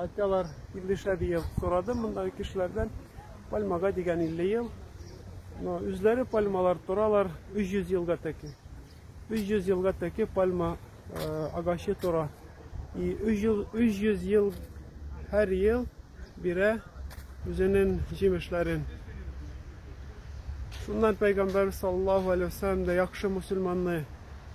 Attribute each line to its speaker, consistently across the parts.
Speaker 1: Айталар 50 шәр ел сорадым мондагы кешеләрдән. Пальмага дигән 50 ел. Но үзләре пальмалар торалар 300 елга тәки. 300 елга тәки пальма э, агачы тора. И 300, 300 ел һәр ел бирә үзенең җимешләрен. Шуннан Пәйгамбәр саллаллаһу алейһи вәсәлләм дә яхшы мусульманны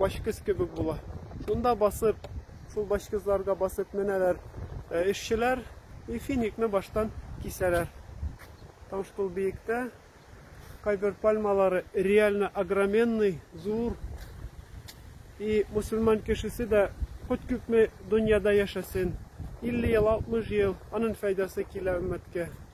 Speaker 1: башкөз кебек була. Шунда басып, шул башкызларга басып менәләр эшчеләр и финикны баштан кисәләр. Там шул биектә кайбер пальмалары реально огроменный, зур. И мусульман кешесе дә хоть күпме дөньяда яшәсен, 50 ел, 60 ел, аның файдасы килә өммәткә.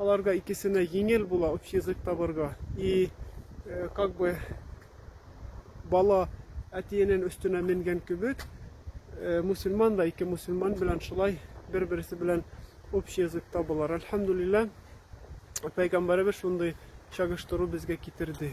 Speaker 1: Аларга икесенә еңел була общий язык табарга. И как бы бала әтиенен өстенә менгән кебек, мусульман да ике мусульман белән шулай бер-берсе белән общий язык табылар. Альхамдулилла, пәйгамбәребез шундый чагыштыру безгә китерде.